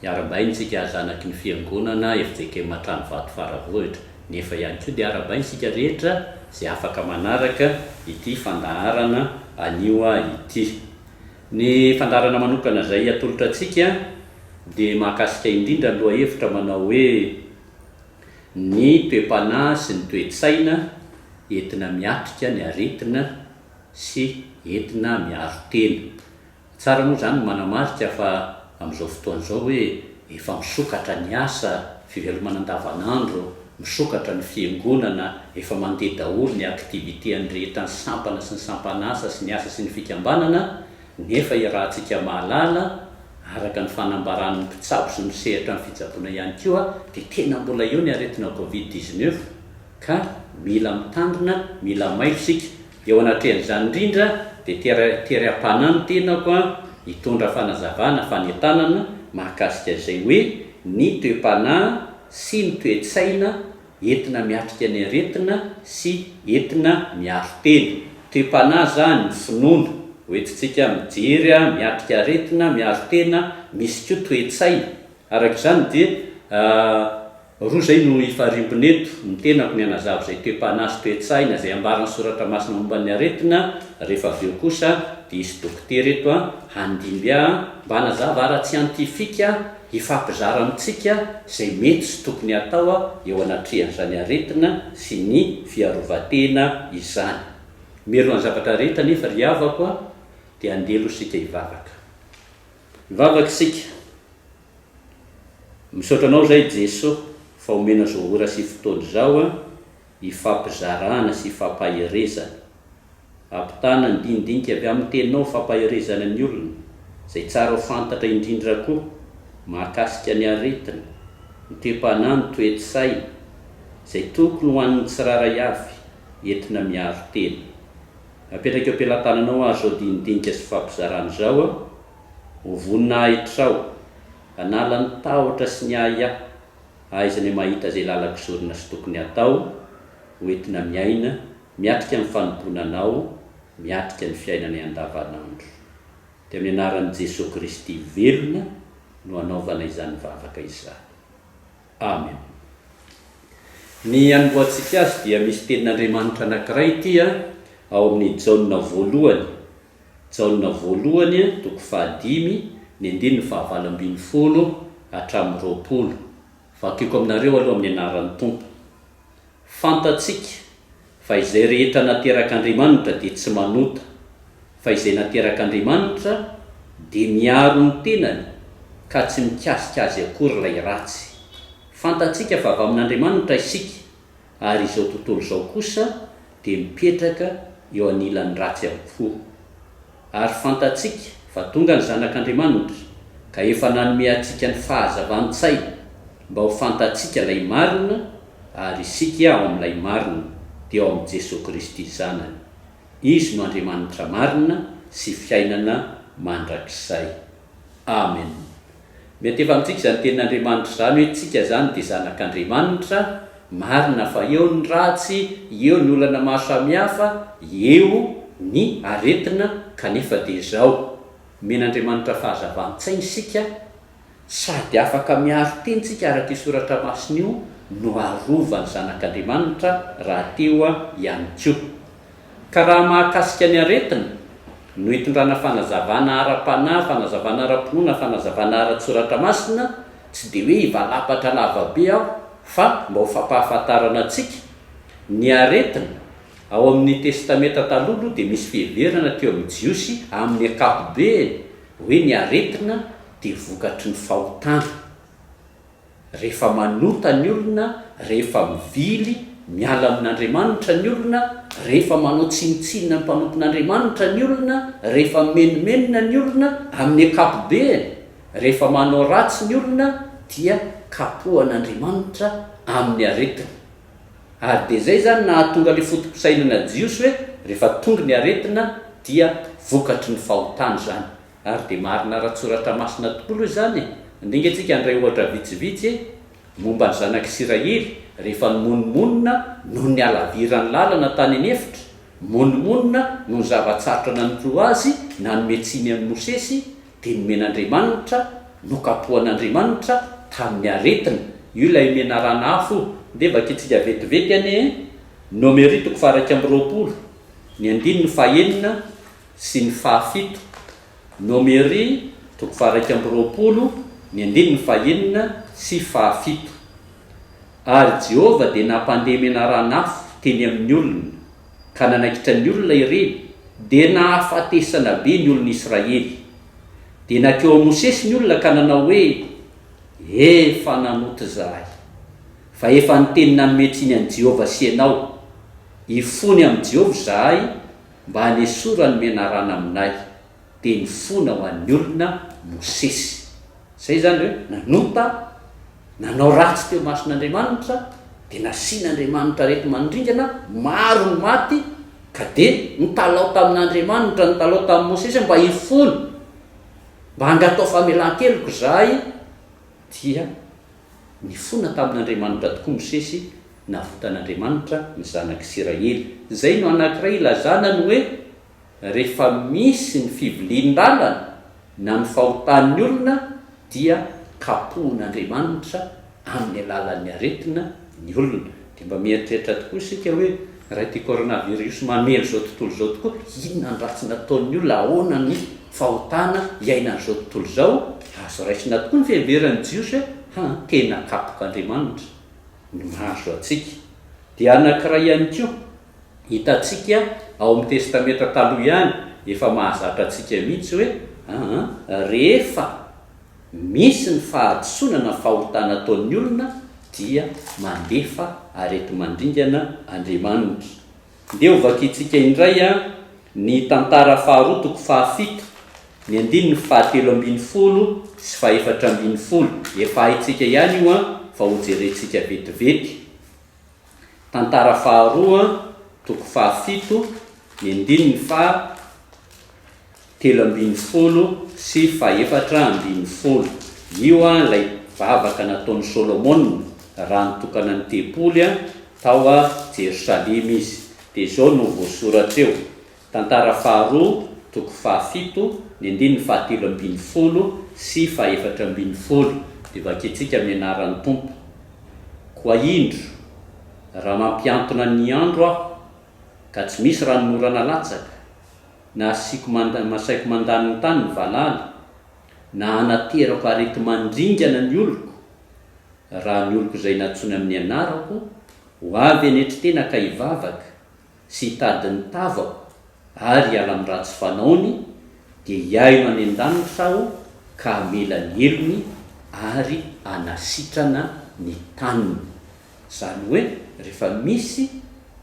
Niarabaintsika zanaky ny fiangonana fjk Matranovato Faravohitra, nefa ihany koa dia arabaintsika rehetra izay afaka manaraka ity fandaharana anio ity. Ny fandaharana manokana izay atolotra antsika dia mahakasika indrindra ny lohahevitra manao hoe Ny toe-panahy sy ny toe-tsaina entina miatrika ny aretina sy entina miaro tena. Tsara moa izany ny manamarika fa amin'izao fotoana izao hoe efa misokatra ny asa, fivelomana andavanandro, misokatra ny fiangonana, efa mandeha daholo ny activité an'ny rehetra ny sampana sy ny sampan'asa sy ny asa sy ny fikambanana nefa iarahantsika mahalala araka ny fanambaran'ny mpitsabo sy misehatra amin'ny fitsaboana ihany koa dia tena mbola eo ny aretina covid dix-neuf ka mila mitandrina, mila mailo isika. Eo anatrehan'izany indrindra dia teram-panahy ny tenako hitondra fanazavana, fanentanana mahakasika izay hoe ny toe-panahy sy ny toe-tsaina entina miatrika ny aretina sy entina miaro tena. Toe-panahy izany, ny finoana, hoentintsika mijery, miatrika aretina, miaro tena, misy koa toe-tsaina. Araka izany dia. Roa izay no hifariompina eto, ny tenako ny hanazava izay toe-panahy sy toe-tsaina izay ambaran'ny Soratra Masina momba ny aretina, rehefa avy eo kosa dia hisy dokotera eto handimby ahy mba hanazava ara-tsiantifika hifampizara amintsika izay mety sy tokony hatao eo anatrehan'izany aretina sy ny fiarovan-tena izany. Mialoha ny zavatra rehetra anefa ry havako dia andeha aloha isika hivavaka. Mivavaka isika. Misaotra anao zay Jeso fa omena zao ora sy fotoana izao an hifampizarana sy hifampaherezana. Ampitana ny dinidinika avy aminy teninao fampaherezana ny olona zay tsara ho fantatra indrindra koa mahakasika ny aretina, ny toe-panahy ny toe-tsaina zay tokony ho an'ny tsiraray avy entina miaro tena. Apetraka eo am-pelatananao ary zao dinidinika sy fampizarana izao an. Ho voninahitrao, hanala ny tahotra sy ny ahiahy, hahaizana ny mahita izay lalako sorona sy tokony hatao, ho entina miaina, miatrika ny fanompoana Anao, miatrika ny fiainanay andavanandro. Dia amin'ny anaran'i Jesoa Kristy velona no anaovana izany vavaka izany. Amen. Ny hanombohantsika azy dia misy tenin'Andriamanitra anankiray ity ao amin'ny Jaona voalohany Jaona Voalohany toko fahadimy ny andininy fahavalo ambin'ny folo hatramin'ny roapolo. Vakiko aminareo aloha amin'ny anaran'ny Tompo. Fantatsika fa izay rehetra naterak'Andriamanitra dia tsy manota, fa izay naterak'Andriamanitra dia miaro ny tenany ka tsy mikasika azy akory ilay ratsy. Fantatsika fa avy amin'Andriamanitra isika ary izao tontolo izao kosa dia mipetraka eo anilan'ny ratsy avokoa. Ary fantatsika fa tonga ny Zanak'Andriamanitra ka efa nanome antsika ny fahazavan-tsaina mba ho fantatsika ilay marina, ary isika ao amin'ilay marina dia ao amin'i Jesoa Kristy Zanany. Izy no Andriamanitra marina sy fiainana mandrakizay. Amen. Mety efa amintsika izany tenin'Andriamanitra izany hoe tsika izany dia zanak'Andriamanitra, marina fa eo ny ratsy, eo ny olana maro samihafa, eo ny aretina kanefa dia izao, omen'Andriamanitra fahazavan-tsaina isika sady afaka miaro tena isika araka io soratra masina io no arovany zanak'Andriamanitra rahateo ihany koa. Ka raha mahakasika ny aretina, no itondrana fanazavana ara-panahy, fanazavana ara-pinoana, fanazavana ara-tSoratra Masina, tsy dia hoe hivalapatra lava be aho, fa mba ho fampahafantarana antsika, ny aretina, ao amin' ny Testamenta Taloha aloha dia misy fiheverana teo amin' ny Jiosy amin' ny ankapobeny hoe ny aretina dia vokatry ny fahotana. Rehefa manota ny olona, rehefa mivily, miala amin'Andriamanitra ny olona, rehefa manao tsinontsinona ny mpanompon'Andriamanitra ny olona, rehefa mimenomenona ny olona, amin'ny ankapobeany, rehefa manao ratsy ny olona, dia kapohan'Andriamanitra amin'ny aretina. Ary dia izay izany nahatonga ilay foto-pisainana jiosy hoe rehefa tonga ny aretina dia vokatry ny fahotana izany. Ary dia marina ara-tSoratra Masina tokoa aloha izany e! Ndinga isika handray ohatra vitsivitsy e! Momba ny zanak'Isiraely rehefa nimonomonona noho ny halaviran'ny lalana tany any efitra, nimonomonona noho ny zava-tsarotra nanoroa azy nanome tsiny an'i Mosesy, dia nomen'Andriamanitra, nokapohan'Andriamanitra tamin'ny aretina. Io ilay menarana afo io. Ndeha vakintsika vetivety anie e! Nomery toko faha iraika amby roapolo, ny andininy fahenina. sy ny fahafito, Nomery toko faha-iraika amby roapolo ny andininy fahenina sy fahafito. Ary Jehovah dia nampandeha menarana-afo teny amin' ny olona, ka nanaikitra ny olona ireny, dia nahafatesana be ny olon' Israely. Dia nankeo amin'i Mosesy ny olona ka nanao hoe, Efa nanota izahay, fa efa niteny nanome tsiny an'i Jehovah sy ianao. Hifony amin'i Jehovah izahay mba hanesorany ny menarana aminay, dia nifona ho an'ny olona Mosesy. Izay izany hoe nanota, nanao ratsy teo imason'Andriamanitra, dia nasian'Andriamanitra areti-manodringana, maro ny maty, ka dia nitalaho tamin'Andriamanitra, nitalaho tamin'i Mosesy, mba hifona, mba angatao famelan-keloka izahay, dia. Nifona tamin' Andriamanitra tokoa Mosesy, navotan' Andriamanitra ny zanak' Isiraely. Izay no anankiray ilazana ny hoe rehefa misy ny fivilian-dalana na ny fahotan' ny olona dia kapohin' Andriamanitra amin' ny alalan' ny aretina ny olona. Dia mba mieritreritra tokoa isika hoe Raha ity coronavirus mamely izao tontolo izao tokoa, inona ny ratsy nataon'ny olona, ahoana ny fahotana iainan'izao tontolo izao? Azo raisina tokoa ny fiheveran'ny Jiosy fa ny tena kapok'Andriamanitra no mahazo antsika. Dia anankiray ihany koa hitantsika ao amin'ny Testamenta Taloha ihany, efa mahazatra antsika mihitsy hoe, aa rehefa. Misy ny fahadisoana na fahotana ataon'ny olona dia mandefa areti-mandringana Andriamanitra. Ndeha hovakiantsika indray ny tantara faharoa toko fahafito, ny andininy fahatelo ambin'ny folo sy fahefatra ambin'ny folo. Efa haintsika ihany io fa hojerentsika vetivety. Tantara faharoa toko fahafito, ny andininy faha. telo ambin'ny folo sy fahefatra ambin'ny folo. Io ilay vavaka nataon'i Solomona raha nitokana ny tempoly tao Jerosalema izy. Dia izao no voasoratra eo, Tantara faharoa, toko fahafito, ny andininy fahatelo ambin'ny folo sy fahefatra ambin'ny folo, dia vakintsika amin'ny anaran'ny Tompo, Koa indro, raha mampiantona ny andro aho, ka tsy misy ranonorana latsaka, na asiako manda na asaiko mandany ny tany ny valala, na hanaterako areti-mandringana ny oloko, raha ny oloko izay nantsoina amin'ny anarako ho avy eny an-tritena ka hivavaka sy hitady ny tavako ary hiala amin'ny ratsy fanaony, dia hihaino any an-danitra Aho ka hamela ny helony ary hanasitrana ny taniny. Izany hoe rehefa misy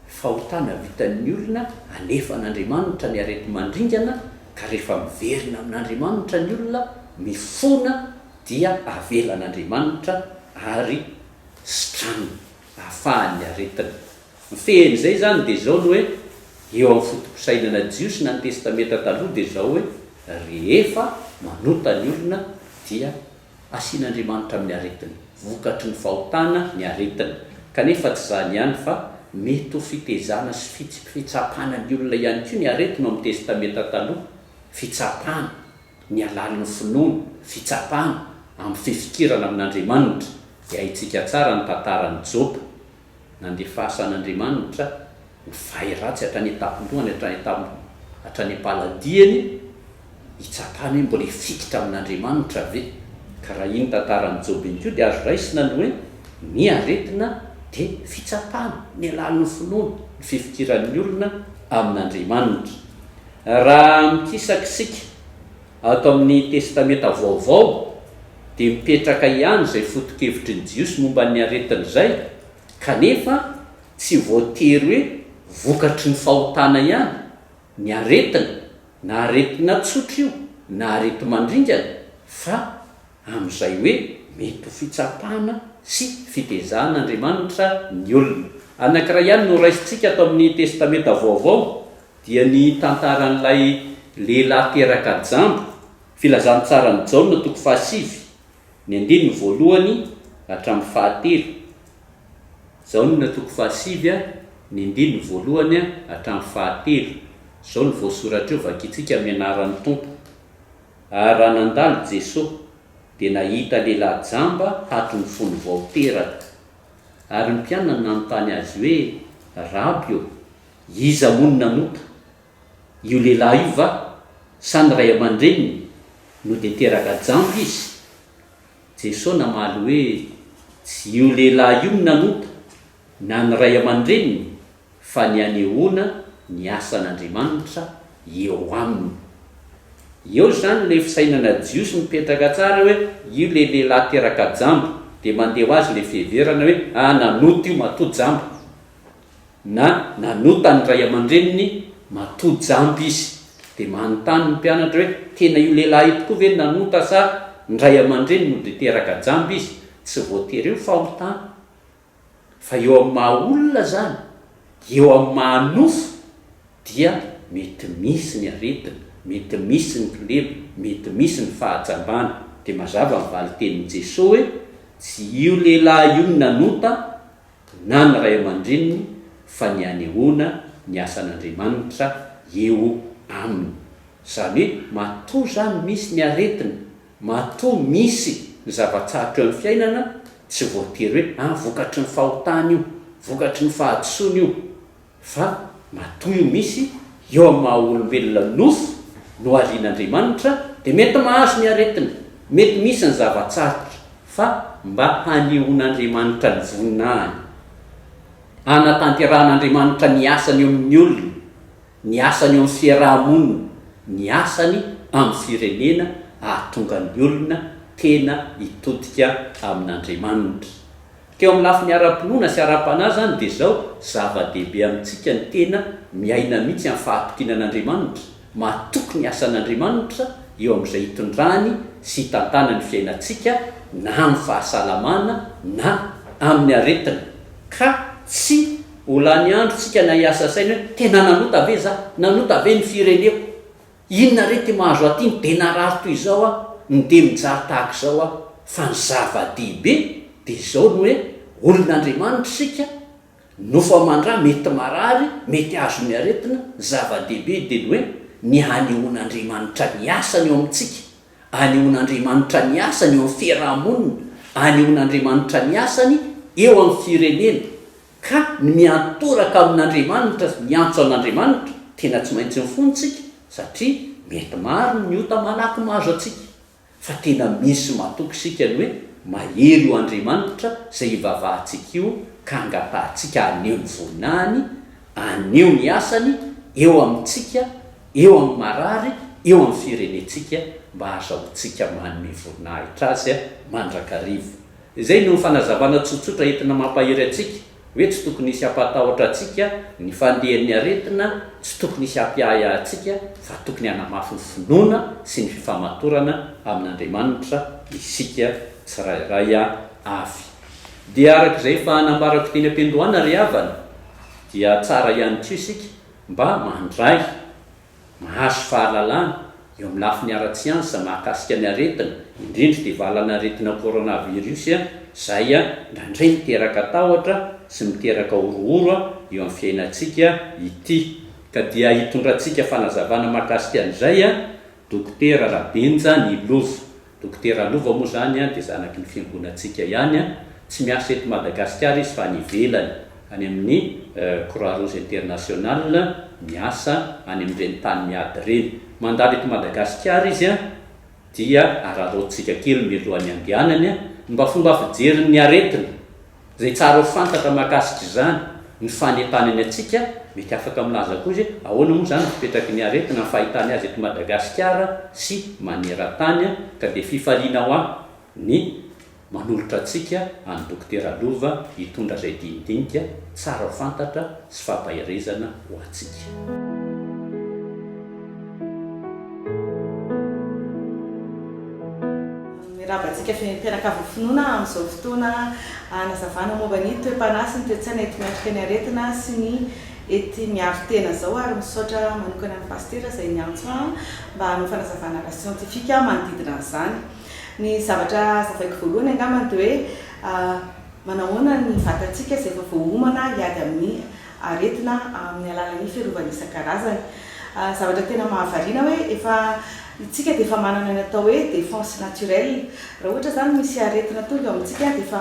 fahotana vitan'ny olona alefa an'Andriamanitra ny areti-mandringana ka rehefa miverina amin'Andriamanitra ny olona mifona dia avelan'Andriamanitra ary sitraniny ahafahan'ny aretina mifehy an'izay izany dia izao ny hoe eo amin'ny fotopisainana jiosy na ny testamenta taloha dia izao hoe rehefa manota ny olona dia Asian'Andriamanitra amin'ny aretiny. Vokatry ny fahotana ny aretina. Kanefa tsy izany ihany fa mety ho fitezana sy fitsipfitsapana ny olona ihany koa ny aretina ao amin'ny Testamenta Taloha, fitsapana ny halalin'ny finoana, fitsapana amin'ny fifikirana amin'Andriamanitra, dia haintsika tsara ny tantaran'i Joba nandefasan'Andriamanitra ho vay ratsy hatrany an-tampon-dohany, hatrany an-tampon-, hatrany am-paladiany, hitsapany hoe mbola hifikitra amin'Andriamanitra ve? Ka raha iny tantaran'i Joba iny koa dia azo raisina ny hoe ny aretina dia fitsapana, ny alalin'ny finoana, ny fifikiran'ny olona amin'Andriamanitra. Raha mikisakisika Ato amin'ny Testamenta Vaovao dia mipetraka ihany izay foto-kevitry ny Jiosy momba ny aretina izay, kanefa tsy voatery hoe vokatry ny fahotana ihany ny aretina, na aretina tsotra io na areti-mandringana, fa amin'izay hoe mety ho fitsapana sy fitezahan' Andriamanitra ny olona. Anankiray ihany no raisintsika ato amin'ny Testamenta Vaovao dia ny tantaran'ilay lehilahy teraka jamba, Filazantsaran'i Jaona toko fahasivy, ny andininy voalohany hatramin'ny fahatelo, Jaona toko fahasivy a, ny andininy voalohany a hatramin'ny fahatelo. Izao no voasoratra eo, Vakintsika amin'ny anaran'ny Tompo. Ary raha nandalo Jeso, dia nahita lehilahy jamba haton'ny fony vao teraka. Ary ny mpianany nanontany Azy hoe, Raby ô, Iza moa no nanota? Io lehilahy io va? Sa ny ray aman-dreniny no dia teraka jamba izy? Jesoa namaly hoe, Tsy io lehilahy io no nanota, na ny ray aman-dreniny, fa ny hanehoana ny asan'Andriamanitra eo aminy. Eo izany ilay fisainana jiosy mipetraka tsara hoe io ilay lehilahy teraka jamba, dia mandeha ho azy ilay fiheverana hoe, ah nanota io matoa jamba. na nanota ny ray aman-dreniny matoa jamba izy. Dia manontany ny mpianatra hoe, tena io lehilahy io tokoa ve no nanota sa ny ray aman-dreniny no dia teraka jamba izy? Tsy voatery eo ny fahotana fa eo amin'ny maha olona izany, eo amin'ny maha nofo dia mety misy ny aretina, mety misy ny kilema, mety misy ny fahajambana. Dia mazava ny valin-tenin'i Jesoa hoe, tsy io lehilahy io no nanota na ny ray aman-dreniny fa ny hanehoana ny asan'Andriamanitra eo aminy. Izany hoe matoa izany misy ny aretina, matoa misy ny zava-tsarotra eo amin'ny fiainana, tsy voatery hoe, ah, vokatry ny fahotana io, vokatry ny fahadisoana io. Fa matoy misy eo amin'ny maha olombelona nofo no arian'Andriamanitra dia mety mahazo ny aretina, mety misy ny zava-tsarotra fa mba hanehoan'Andriamanitra ny voninahiny, hanatanterahan'Andriamanitra ny asany eo amin'ny olona, ny asany eo amin'ny fiaraha-monina, ny asany amin'ny firenena ahatonga ny olona tena hitodika amin'Andriamanitra. Teo amin'ny lafiny ara-pinoana sy ara-panahy izany dia izao, zava-dehibe amintsika ny tena miaina mihitsy amin'ny fahatokiana an'Andriamanitra, matoky ny asan'Andriamanitra eo amin'izay itondrany sy itantanany ny fiainantsika na amin'ny fahasalamana na amin'ny aretina, ka tsy ho lany androntsika na hiasa saina hoe, tena nanota ve izaho? Nanota ve ny fireneko? Inona re ty mahazo aty ny be narary toy izao a, ny de mijaly tahaka izao a, fa ny zava-dehibe de izao ny hoe olona Andriamanitra isika, nofo aman-dra mety marary, mety hahazo ny aretina, ny zava-dehibe de ny hoe ny hanehoan'Andriamanitra ny asany eo amintsika, hanehoan'Andriamanitra ny asany eo amin'ny fiaraha-monina, hanehoan'Andriamanitra ny asany eo amin'ny firenena. Ka ny miantoraka amin'Andriamanitra sy miantso an'Andriamanitra tena tsy maintsy mifono isika satria mety maro ny ota malaky mahazo antsika, fa tena misy matoky isika ny hoe mahery io Andriamanitra izay hivavahantsika io ka hangatahantsika haneho ny voninahiny, haneho ny asany eo amintsika, eo amin'ny marary, eo amin'ny firenentsika mba hahazahoantsika manome voninahitra Azy mandrakariva. Izay no fanazavana tsotsotra entina mampahery antsika hoe tsy tokony hisy hampatahotra antsika ny fandehan'ny aretina, tsy tokony hisy hampiahiahy antsika fa tokony hanamafy ny finoana sy ny fifamatorana amin'Andriamanitra isika tsirairay avy. Dia araka izay efa nambarako teny am-piandohana ry havana dia tsara ihany koa isika mba mandray Mahazo fahalalana eo amin'ny lafiny ara-tsiansa mahakasika ny aretina, indrindra ity valan'aretina coronavirus izay indraindray miteraka tahotra sy miteraka horohoro eo amin'ny fiainantsika ity. Ka dia hitondrantsika fanazavana mahakasika an'izay Dokotera Rabenja Nilova. Dokotera Lova moa zany dia zanaky ny fiangonantsika ihany, tsy miasa eto Madagasikara izy fa any ivelany any amin'ny Croix Rouge International miasa any amin'ireny tany miady ireny. Mandalo eto Madagasikara izy dia araraotintsika kely mialohan'ny andehanany ny mba fomba fijerin'ny aretina. Izay tsara ho fantatra mahakasika izany, ny fanentanany antsika, mety afaka milaza koa izy hoe ahoana moa izany no fipetraky ny aretina, ny fahitany azy eto Madagasikara sy maneran-tany, ka dia fifaliana ho ahy ny manolotra antsika an'i Dokotera Lova hitondra izay dinidinika tsara ho fantatra sy fampaherezana ho antsika. Mirava antsika fiainim-pianakavin'ny finoana amin'izao fotoana hanazavana momba ny toe-panahy sy ny toe-tsaina ety miatrika ny aretina sy ny ety miaro tena izao ary misaotra manokana ny Pasitera izay niantso ahy mba hanao fanazavana ara-siantifika manodidina an'izany. Ny zavatra hazavaiko voalohany angambany dia hoe manahoana ny vatantsika izay efa voaomana hiady amin'ny aretina amin'ny alalan'ny fiarovana isan-karazany. Zavatra tena mahavariana hoe efa isika dia efa manana ny atao hoe défense naturelle. Raha ohatra izany misy aretina tonga eo amintsika dia efa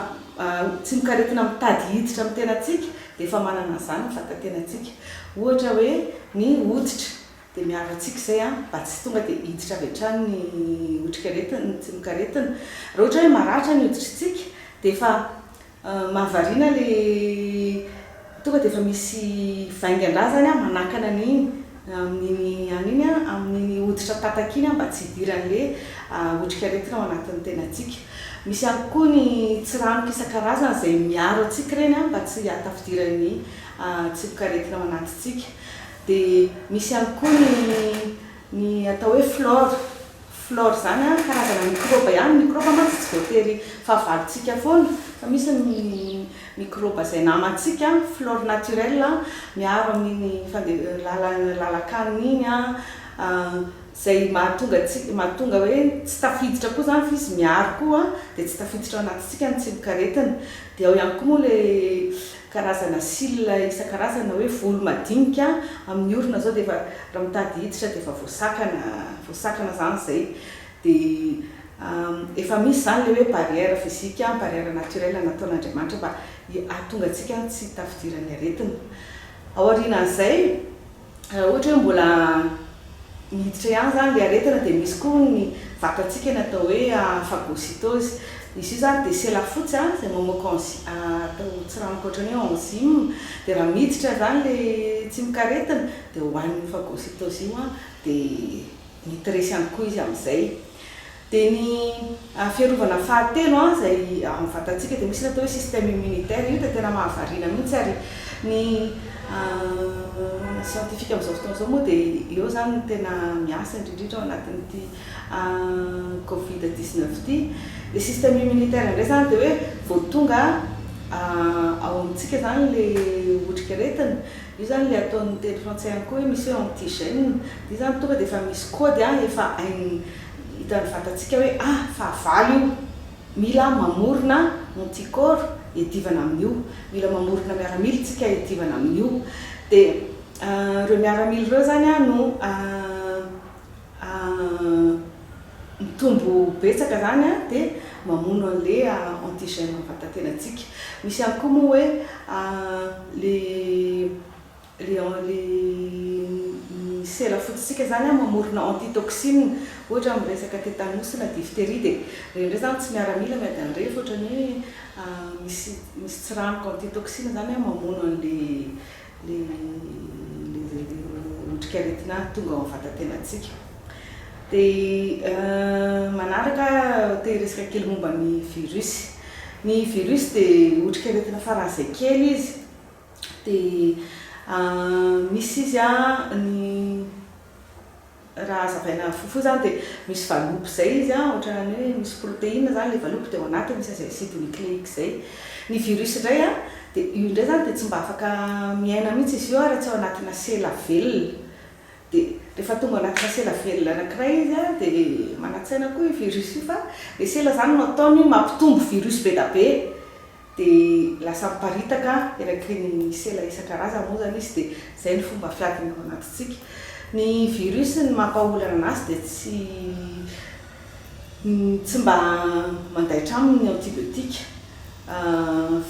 tsimokaretina mitady hiditra amin'ny tenantsika dia efa manana an'izany ny vatan-tenantsika. Ohatra hoe ny hoditra dia miaro antsika izay mba tsy tonga dia hiditra avy hatrany ny otrikaretina, ny tsimokaretina. Raha ohatra hoe maratra ny hoditritsika dia efa Mahavariana le tonga de efa misy vaingan-drà zany an manakana an'iny amin'iny an'iny an amin'iny hoditra tatak iny an mba tsy hidiran'le otrik'aretina ao anatin'ny tenantsika. Misy ihany koa ny tsiranoka isan-karazany izay miaro antsika ireny an mba tsy hahatafidiran'ny tsipok'aretina ao anatintsika. Dia misy ihany koa ny Ny atao hoe flore, flore izany an, karazana mikrôba ihany, mikrôba mantsy tsy voatery fahavalontsika foana fa misy ny mikrôba izay namantsika, flore naturelle an, miaro amin'iny fande, lala, lalan-kanina iny an, izay mahatonga antsika, mahatonga hoe tsy tafiditra koa izany fa izy miaro koa dia tsy tafiditra ao anatintsika ny tsimokaretina. Dia ao ihany koa moa ilay karazana cils isan-karazany na hoe volo madinika amin'ny orona izao dia efa raha mitady hiditra dia efa voasakana voasakana izany izay dia efa misy izany ilay hoe barrière physique ny barrière naturelle nataon'Andriamanitra mba hahatonga antsika tsy tafidiran'ny aretina. Aorianan'izay. Raha ohatra hoe mbola miditra ihany izany ilay aretina dia misy koa ny vatantsika ny atao hoe phagocytose. Izy io izany dia sela fotsy izay mamoaka enzy, atao tsiranoka ohatran'ny hoe enzyme, dia raha miditra izany ilay tsimokaretina dia hohanin'io phagocytose io dia mety resy ihany koa izy amin'izay. Dia ny fiarovana fahatelo izay ao amin'ny vatantsika dia misy ny atao hoe système immunitaire. Io dia tena mahavariana mihitsy ary ny siantifika amin'izao fotoana izao moa dia eo izany no tena miasa indrindrindra ao anatin'ity covid dix neuf ity. Ilay système immunitaire indray izany dia hoe vao tonga ao amintsika izany ilay otrikaretina, io izany ilay ataon'ny teny frantsay ihany koa hoe misy hoe antigène, dia io izany tonga dia efa misy kaody efa hain'ny Hitan'ny vatantsika hoe ah, fahavalo io. Mila mamorona anticorps hiadivana amin'io. Mila mamorona miaramila isika hiadivana amin'io. Dia ireo miaramila ireo izany no mitombo betsaka izany dia mamono an'ilay antigène ao am-vatantenantsika. Misy ihany koa moa hoe ilay. le en le ny sela fototsika zany an mamorona antitoxine ohatra am resaka tetanus na diphtérie de reny ndray zany tsy miaramila miady any reny fa otrany hoe misy misy tsiranoka antitoxine zany an mamono an le le le otrikaretina tonga ao am vatatenatsika de manaraka te hiresaka kely momba ny virus ny virus de otrikaretina faran'izay kely izy Dia misy izy an, ny raha hazavaina fohifohy izany dia misy valopy izay izy an, ohatran'ny hoe misy protéine izany ilay valopy dia ao anatiny misy azy acide nucléique izay. Ny virus indray an, dia io indray izany dia tsy mba afaka miaina mihitsy izy io an raha tsy ao anatina sela velona. Dia rehefa tonga ao anatina sela velona anankiray izy an, dia manantsaina koa io virus io fa ilay sela izany no ataony mampitombo virus be dia be. dia lasa miparitaka eraky ny sela isan-karazany moa izany izy dia izay no fomba fiadiny ao anatintsika. Ny virus ny mampahaolana anazy dia tsy tsy mba mandaitra aminy ny antibiotiques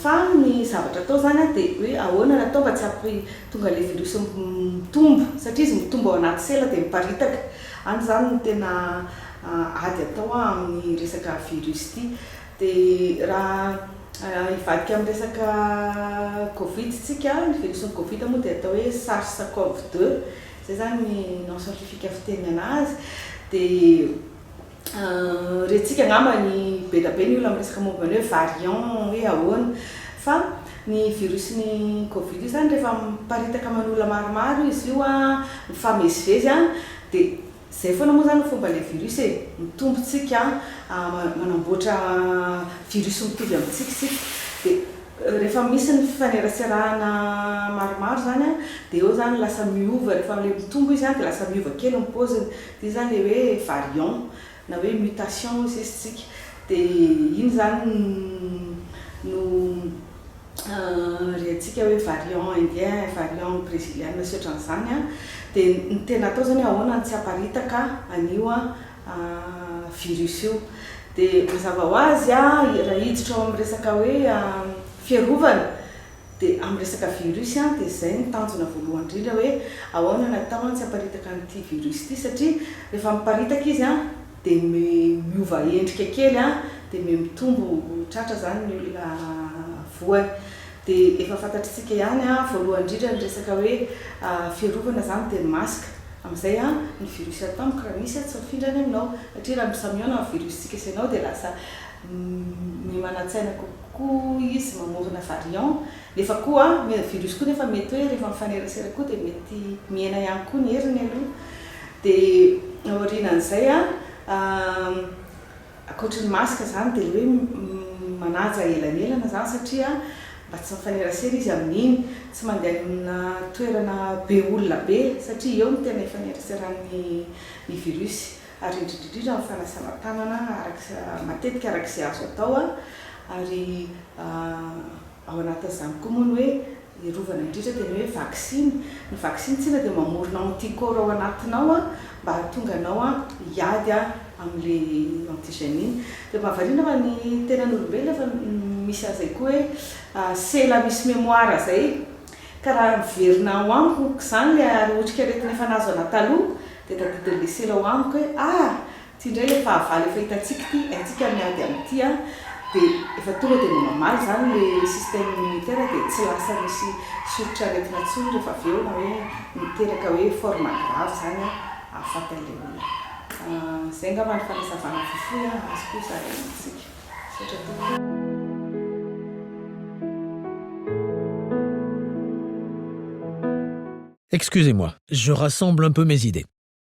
fa ny zavatra atao izany dia hoe ahoana no atao mba tsy hampi tonga ilay virus mitombo satria izy mitombo ao anaty sela dia miparitaka, any izany no tena ady atao amin'ny resaka virus ity. Dia raha hivadika amin'ny resaka covid isika, ny virusin'ny covid moa dia atao hoe sars cov deux, izay izany ny nom scientifique fitenenana azy, dia rentsika angamba ny be dia be ny olona miresaka momba ny hoe variant hoe ahoana, fa ny virusin'ny covid io izany rehefa miparitaka aman'olona maromaro izy io an, mifamezivezy an, dia. Zay foana moa zany ny fomba le virus e, mitombo tsika a, manamboatra virus mitovy amintsika isika, de rehefa misy ny fifaneraserahana maromaro zany a, de eo zany lasa miova, rehefa le mitombo izy a de lasa miova kely ny paoziny, de iny zany le hoe variant na hoe mutation hoy sisa isika, de iny zany no rehatsika hoe variant indien, variant breziliana sy otran'izany an, dia ny tena atao izany ahoana no tsy haparitaka an'io virus io. Dia mazava ho azy raha hiditra ao amin'ny resaka hoe fiarovana dia amin'ny resaka virus an, dia izay no tanjona voalohany indrindra hoe ahoana no atao an tsy haparitaka an'ity virus ity satria rehefa miparitaka izy an, dia miova endrika kely an, dia miha-mitombo tratra izany ny olona voany. Dia efa fantatritsika ihany an, voalohany indrindra ny resaka hoe fiarovana izany dia ny masque. Amin'izay an, ny virus tampoka raha misy an, tsy mifindrany aminao. Satria raha misamiôna ny virus-tsika sy ianao dia lasa miha-manan-tsaina kokoa izy, mamorona variant. Nefa koa an, ny virus koa nefa mety hoe rehefa mifanerasera koa dia mety mihena ihany koa ny heriny aloha. Dia aorianan'izay an, ankoatry ny masque izany dia ilay hoe manaja elanelana izany satria mba tsy mifanerasera izy amin'iny, tsy mandeha any amina toerana be olona be satria eo no tena ifaneraseran'ny ny virus, ary indrindrindrindra ny fanasana tanana araka matetika araka izay azo atao an, ary ao anatin'izany koa moa ny hoe. Ny rovana indrindra dia ny hoe vaksiny. Ny vaksiny tsinona dia mamorona anticorps ao anatinao mba hahatonga anao hiady amin'ilay antigène iny. Dia mahavariana fa ny tenan'olombelona efa misy an'izay koa hoe sela misy mémoire izay ka raha miverina ao amiko izany ilay ary otrikaretina efa nahazo anà taloha dia tadidin'ilay sela ao amiko hoe ah! Ty ndray le fahavalo efa hitantsika ty haintsika miady am ty an de efa tonga de mba mamaly zany le système immunitaire de tsy lasa misy soritra aretina tsony refa avy eo na hoe miteraka hoe forme grave zany an ahafatany le olona. Ahh zay ngamba ny fanazavana fohifohy an azoko io zalahy amintsika. Misaotra tompoko. Excusez-moi, je rassemble un peu mes idées.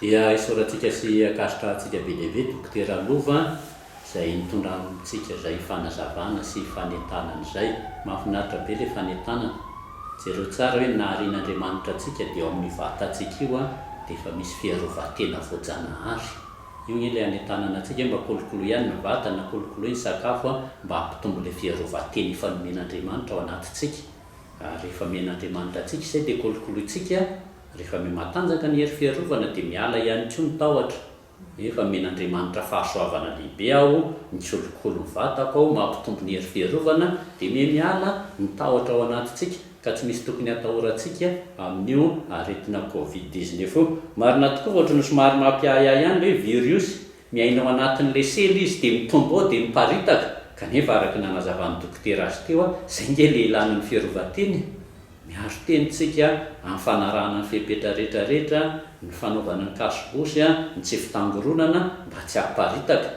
Dia isaorantsika sy ankasitrahantsika be dia be Dokotera Lova izay nitondra amintsika izay fanazavana sy fanentanana izay. Mahafinaritra be ilay fanentanana. Jereo tsara hoe ny naharian'Andriamanitra antsika dia ao amin'ny vatantsika io dia efa misy fiarovan-tena voajanahary. Io anie ilay hanentanana antsika hoe mba kolokolo ihany ny vatana, kolokoloy ny sakafo mba hampitombo ilay fiarovan-tena efa nomen'Andriamanitra ao anatintsika. Ary rehefa men'Andriamanitra antsika izay dia kolokolointsika Rehefa miha matanjaka ny hery fiarovana dia miala ihany koa ny tahotra. Efa omen'Andriamanitra fahasoavana lehibe aho, mikolokolo ny vatako aho, mampitombo ny hery fiarovana, dia miha miala ny tahotra ao anatintsika ka tsy misy tokony hatahorantsika amin'io aretina covid dix-neuf io. Marina tokoa fa ohatran'ny somary mampiahiahy ihany ilay hoe viriosy Miaina ao anatin'ny lesely izy dia mitombo ao dia miparitaka, kanefa araka ny nanazavan'ny dokotera azy teo a, izay nge ilay ilàna ny fiarovan-tena e! Miaro tena isika amin'ny fanarahana ny fepetra rehetra rehetra, ny fanaovana ny kasobosy, ny tsy fitangoronana mba tsy hamparitaka.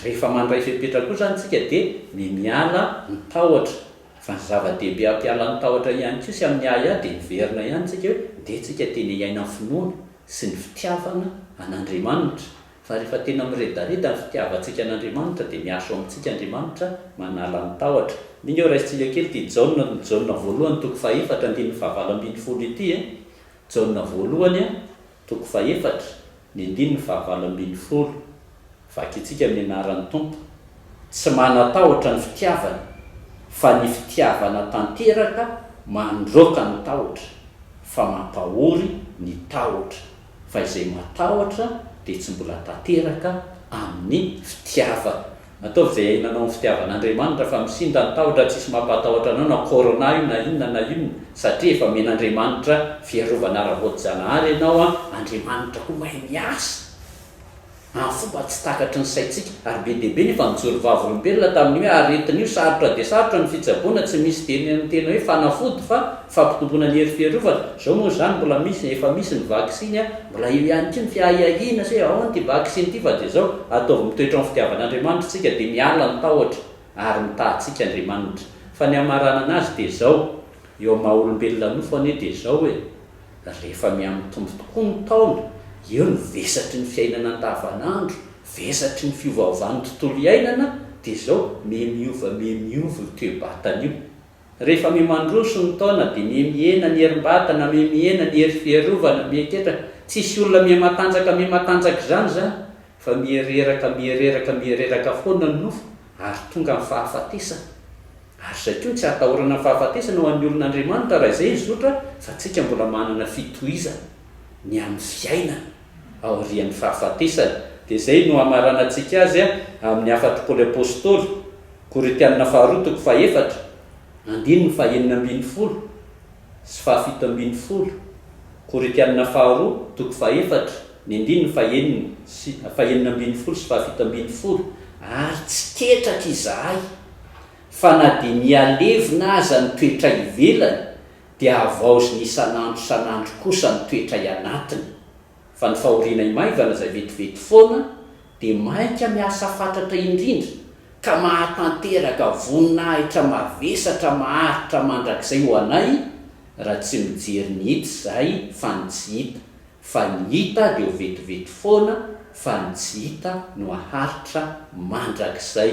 Rehefa mandray fepetra koa izany isika dia ny miala ny tahotra, fa ny zava-dehibe hampiala ny tahotra ihany koa sy amin'ny ahiahy dia miverina ihany isika hoe ndeha isika tena hiaina amin'ny finoana sy ny fitiavana an'Andriamanitra. Fa rehefa tena miredareda ny fitiavantsika an'Andriamanitra dia miasa ao amintsika Andriamanitra manala ny tahotra. Mino aho raisintsika kely ity Jaona Jaona voalohany toko fahefatra andininy fahavalo ambin'ny folo ity e. Jaona voalohany a, toko fahefatra, ny andininy fahavalo ambin'ny folo. Vakintsika amin'ny anaran'ny Tompo. Tsy manatahotra ny fitiavana, fa ny fitiavana tanteraka mandroaka ny tahotra, fa mampahory ny tahotra. fa izay matahotra dia tsy mbola tanteraka amin'ny fitiavany. Ataovy izay iainanao amin'ny fitiavan'Andriamanitra fa misinda ny tahotra tsisy mampatahotra anao na corona io na inona na inona satria efa omen'Andriamanitra fiarovana ara-boajanahary ianao an, Andriamanitra koa mahay miasa. ary fomba tsy takatry ny saintsika ary be dia be nefa nijoro vavolombelona tamin'ny hoe aretin'io sarotra dia sarotra ny fitsaboana tsy misy dia ny tena hoe fanafody fa fampitomboana ny hery fiarovana, zao moa izany mbola misy efa misy ny vaksiny a, mbola eo ihany koa ny fiahiahiana sy hoe aona ity vaksiny ity fa dia zao ataovy mitoetra amin'ny fitiavan'Andriamanitra isika dia miala ny tahotra ary mitaha antsika Andriamanitra fa ny hamaranana azy dia zao eo amin'ny maha olombelona nofo anie dia zao e. Rehefa mihamitombo tokoa ny taona, eo ny vesatry ny fiainana andavanandro, vesatry ny fiovaovan'ny tontolo iainana, dia izao mihamiova mihamiova io toe-batana io. Rehefa mihamandroso ny taona dia mihamihena ny herim-batana, mihamihena ny hery fiarovana, mihaketraka. Tsisy olona mihamatanjaka mihamatanjaka izany izany, Fa miereraka, miereraka, miereraka foana ny nofo, ary tonga ny fahafatesana. Ary izay koa no tsy ahatahorana ny fahafatesana ho an'ny olon'Andriamanitra, raha izay hizotra fa tsika mbola manana fitohizana ny amin'ny fiainana aorian'ny fahafatesana. Dia izay no hamaranantsika azy amin'ny hafatr'i Paoly Apostoly, Korintiana faharoa toko faha efatra, andininy faha enina ambin'ny folo, sy fahafito ambin'ny folo, Koritiana faharoa, toko fahefatra, ny andininy fahenina sy fahenina ambin'ny folo sy fahafito ambin'ny folo, Ary tsy ketraka izahay, fa na dia mihalevona aza ny toetray ivelany, dia havaoziny isan'andro isan'andro kosa ny toetray anatiny. Fa ny fahorianay maivana izay vetivety foana dia mainka miasa fatratra indrindra ka mahatanteraka voninahitra mavesatra maharitra mandrakizay ho anay raha tsy mijery ny hita izay fa ny tsy hita, fa ny hita dia ho vetivety foana fa ny tsy hita no haharitra mandrakizay.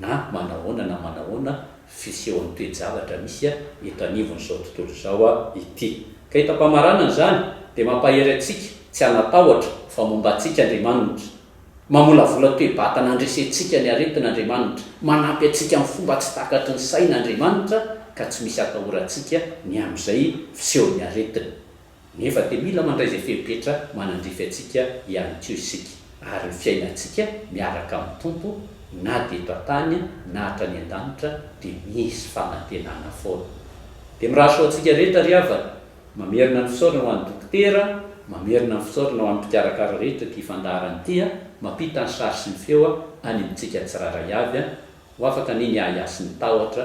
na manahoana na manahoana fisehon'ny toe-javatra misy eto anivon'izao tontolo izao ity. Ka ito am-pamaranana izany dia mampahery antsika tsy hanatahotra fa momba antsika Andriamanitra. Mamolavola toe-batana handresentsika ny aretina Andriamanitra. Manampy antsika amin'ny fomba tsy takatry ny saina Andriamanitra ka tsy misy atahorantsika ny amin'izay fisehon'ny aretina. Nefa dia mila mandray izay fepetra manandrify antsika ihany koa isika, ary ny fiainantsika miaraka amin'ny Tompo, na dia eto an-tany na hatrany an-danitra, dia misy fanantenana foana. Dia mirary soa antsika rehetra ry havana. Mamerina ny fisaorana ho an'ny Dokotera, mamerina ny fisaorana ho an'ny mpikarakara rehetra ity fandaharana ity, mampita ny sary sy ny feo any amintsika tsirairay avy, ho afaka anie ny ahiahy sy ny tahotra